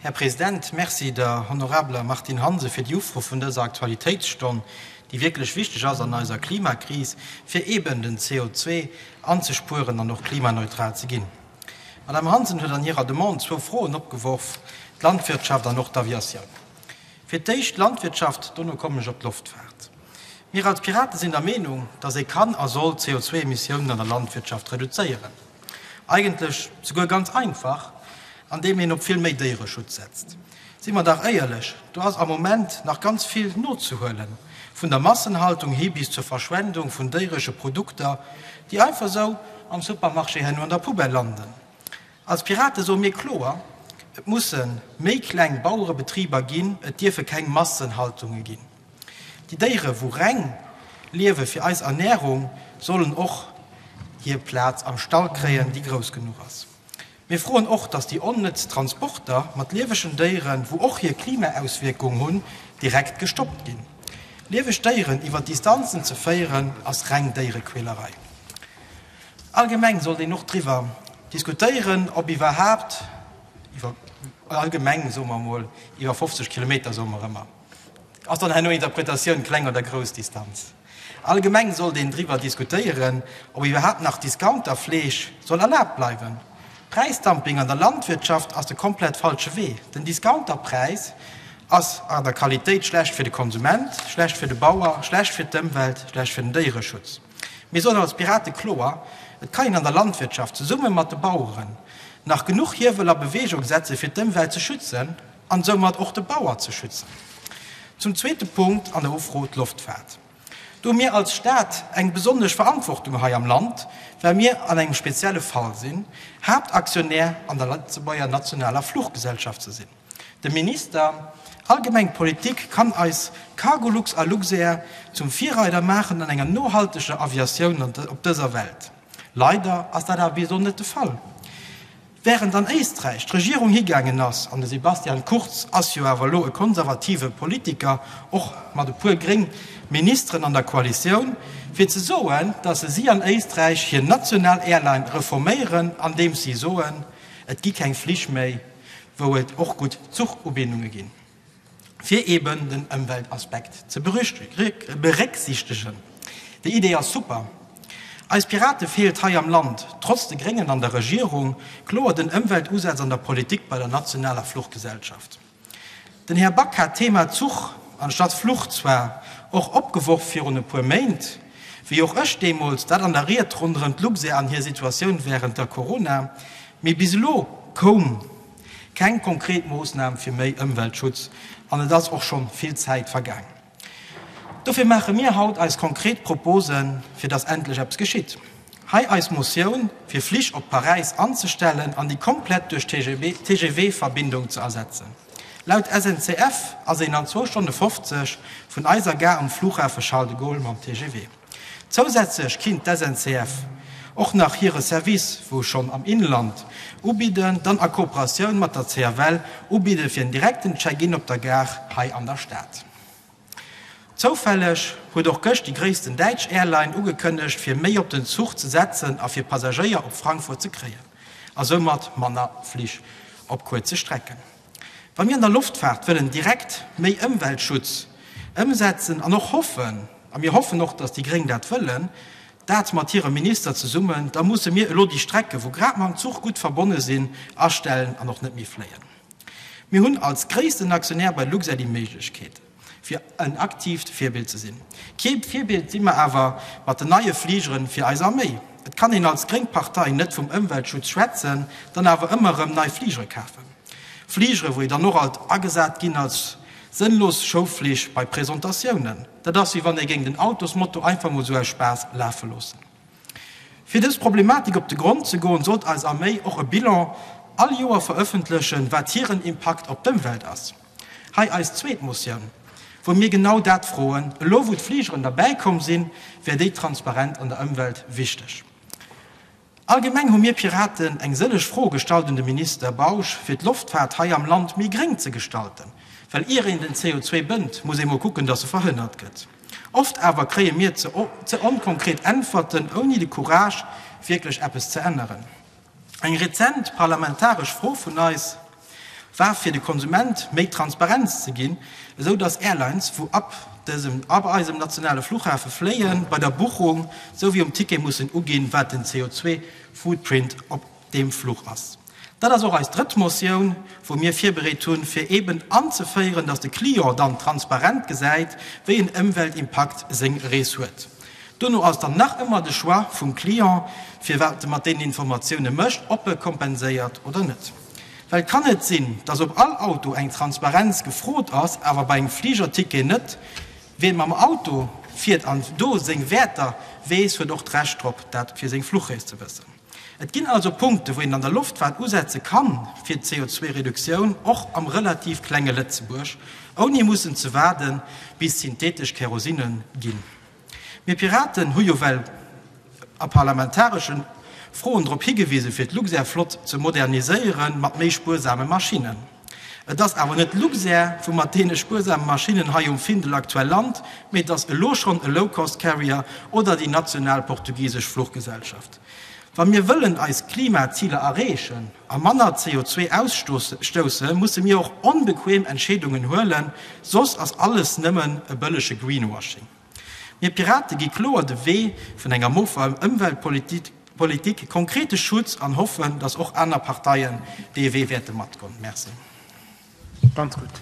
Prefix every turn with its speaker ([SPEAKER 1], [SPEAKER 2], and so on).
[SPEAKER 1] Här President, Merci der honorabler Martine Hansen fir déi Ufro vun dëser Aktualitéitsstonn, déi wierklech wichteg ass an eiser Klimakris, fir eeben den CO2 anzespueren an och klimaneutral ze ginn. D'Madame Hansen huet an hirer Demande zwou Froen opgeworf, d'Landwirtschaft an och d'Aviation. Fir d'éischt d'Landwirtschaft, dono kommen ech op d'Loftfaart. Mir als Piraten sinn der Meenung, dass ee kann a soll d'CO2-Emissiounen an der Landwirtschaft reduzéieren. Eigentlech souguer ganz einfach, andeem een op vill méi Déiereschutz setzt. Si mer dach éierlech, do ass am Moment nach ganz vill nozehuelen, vun der Massenhaltung hi bis zur Verschwendung vun déieresche Produkter, déi einfach esou am Supermarché herno an der Poubelle landen. Als Pirate soe mir kloer, Et musse méi kleng Bauerebetriber ginn, et dierfe keng Massenhaltunge ginn. Déi Déiere wou reng liewe fir eis Ernährung sollen och hier Plaatz am Stall kréien déi grouss genuch ass. Mir froen och dass déi onnëtz Transporter mat liewegen Déieren wou och hier Klimaauswierkung hunn direkt gestoppt ginn. Lieweg Déieren iwwer Distanzen ze féieren ass reng Déierequälerei. Allgemeng sollt een och driwwer diskutéieren ob iwwerhaapt iwwer allgemeng soe mer mol iwwer 50 Kilometer soe mer ëmmer. Ass dann herno Interpretatioun kleng oder grouss Distanz? Allgemeng sollt een driwwer diskutéieren, ob iwwerhaapt nach Discounter-Fleesch soll erlaabt bleiwen. Präisdumping an der Landwirtschaft ass de komplett falsche Wee. Den Discounter-Präis ass an der Qualitéit schlecht fir de Konsument, schlecht fir de Bauer, schlecht fir d'Ëmwelt, schlecht fir den Déiereschutz. Mir soen als Pirate kloer, Et kann een an der Landwirtschaft, zesumme mat de Baueren, nach genuch Hiewel a Bewegung setze fir d'Ëmwelt ze schützen an soumat och de Bauer ze schützen. Zum zweete Punkt an der Ufro, d'Loftfaart. Do hu mir als Staat eng besonnesch Verantwortung hei am Land, well mir an engem spezielle Fall sinn, Haaptaktionär an der Lëtzebuerger Nationaler Fluchgesellschaft ze sinn. De Minister, Allgemeng d'Politik kann eis Cargolux a Luxair zum Virreider maachen an enger nohalteger Aviatioun op dëser Welt. Leider ass dat awer bis elo net de Fall. Wärend an Éisträich d'Regierung higaangen ass, an de Sebastian Kurz ass jo awer elo e konservative Politiker, och mat e puer gréng Ministeren an der Koalitioun, fir ze soen, datt si an Éisträich hir national Airline reforméieren, andeems si soen, et gi keng Flich méi wou et och gutt Zuchubindunge ginn, fir eben den Ëmweltaspekt ze berécksiichtegen. Déi Idee ass super. Eis Pirate feelt hei am Land, trotz de Gréngen an der Regierung, kloer den Ëmweltusaz an der Politik bei der nationaler Fluchgesellschaft. Den Här Back hat d'Thema Zuch anstatt Fluch zwar och opgeworf virun e puer Méint, wéi och ech deemools, dat an der Ried ronderëm d'Luxair an hir Situatioun wärend der Corona. Mee bis elo koum keng konkret Moossnam fir méi Ëmweltschutz an et ass och schonn vill Zäit vergaang. Dofir maache mir haut eis konkret Proposen, fir dass endlech eppes geschitt. Hei eis Motioun, fir Flich op Paräis anzestellen an déi komplett duerch TGV-Verbindung ze ersetzen. Laut SNCF ass een an zwou Stonne 50 vun eiser Gare um Flughafe Charles de Gaulle mam TGV. Zousätzlech kinnt d'SNCF och nach hire Service, wou schonn am Inland, ubidden, dann a Kooperatioun mat der CFL ubidde fir en direkten Check-in op der Gare hei an der Stad. Zoufälleg huet och gëscht déi gréissten däitsch Airline ugekënnegt fir méi op den Zuch ze setzen a fir Passagéier op Frankfurt ze kréien a soumat manner Flich op kuerze Strecken. Wa mir an der Loftfaart wëllen direkt méi Ëmweltschutz ëmsetzen an och hoffen, a mir hoffen och, dass déi Gréng dat wëllen, dat mat hirem Minister zesummen, da musse mir elo déi Strecken, wou grad mam Zuch gutt verbonne sinn, astellen an och net méi fléien. Mir hunn als gréissten Aktionär bei Luxair déi Méiglechkeet. fir en aktiivt Virbild ze sinn. Kee Virbild si mer awer mat den neie Fligeren fir eis Arméi. Et kann een als gréng Partei net vum Ëmweltschutz schwätzen, dann awer ëmmer erëm nei Fligere kafen. Fligere wou ee dann och alt agesat ginn als sënnlos Schoufflig bei Presentatiounen. Dat ass wéi wann ee géing den Autosmotor einfach mol sou aus Spaass lafe loossen. Fir dës Problematik op de Grond ze goen, sollt eis Arméi och e Bilan all Joer verëffentlechen, wat hiren Impakt op d'Ëmwelt ass. Hei eis zweet Motioun, wou mir genau dat froen. Elo wou d'Fligeren derbäi komm sinn, wär déi Transparenz an der Ëmwelt wichteg. Allgemeng hu mir Piraten eng sëlleg Froe gestallt un de Minister Bausch, fir d'Loftfaart hei am Land méi gréng ze gestalten. Well ier een den CO2 bënnt, muss ee mol kucken, datt e verhënnert gëtt. Oft awer kréie mir ze onkonkret Äntwerten, ouni de Courage wierklech eppes ze änneren. Eng rezent parlamentaresch Fro vun eis. war fir de Konsument méi Transparenz ze ginn, esou datt Airlines wou ab dësem ab eisem nationale Fluchhafe fléien, bei der Buchung sou wéi um Ticket mussen uginn, wat den CO2-Footprint op deem Fluch ass. Dat ass och eis drëtt Motioun, wou mir virbereet hunn, fir eeben anzeféieren, datt de Client dann transparent gesäit, wéi en Ëmweltimpakt seng Rees huet. Dono ass dann nach ëmmer de Choix vum Client, fir wat e mat deenen Informatioune mécht, ob e kompenséiert oder net. Well et kann net sinn, dass op all Auto eng Transparenz gefrot ass, awer bei engem Fligerticket net. Wien mam Auto fiert an do seng Wäerter weess, huet och d'Recht drop, dat fir seng Fluchrees ze wëssen. Et ginn also Punkten, wou een an der Loftfaart usetze kann fir d'CO2-Reduktioun, och am relativ klenge Lëtzebuerg, ouni mussen ze waarden, bis synthetesch Kärosinen ginn. Mir Piraten hu jo well a parlamentareschen Froen drop higewisen, fir d'Luxair-Flott ze moderniséieren mat méi spuersame Maschinnen. Et ass awer net Luxair, wou mat deene spuersame Maschinnen hei um Findel aktuell lant, mee et ass elo schonn e Low-Cost-Carrier oder déi national portugisesch Fluchgesellschaft. Wa mir wëllen eis Klimaziler erreechen a manner CO2 ausstousse musse mir och onbequem Entscheedungen huelen, soss ass alles nëmmen e bëllege Greenwashing. Mir Pirate gi kloer de Wee vun enger moffer Ëmweltpolitik, konkrete Schutz an hoffen, datt och aner Parteien
[SPEAKER 2] dee
[SPEAKER 1] Wee wäerte matgoen. Merci.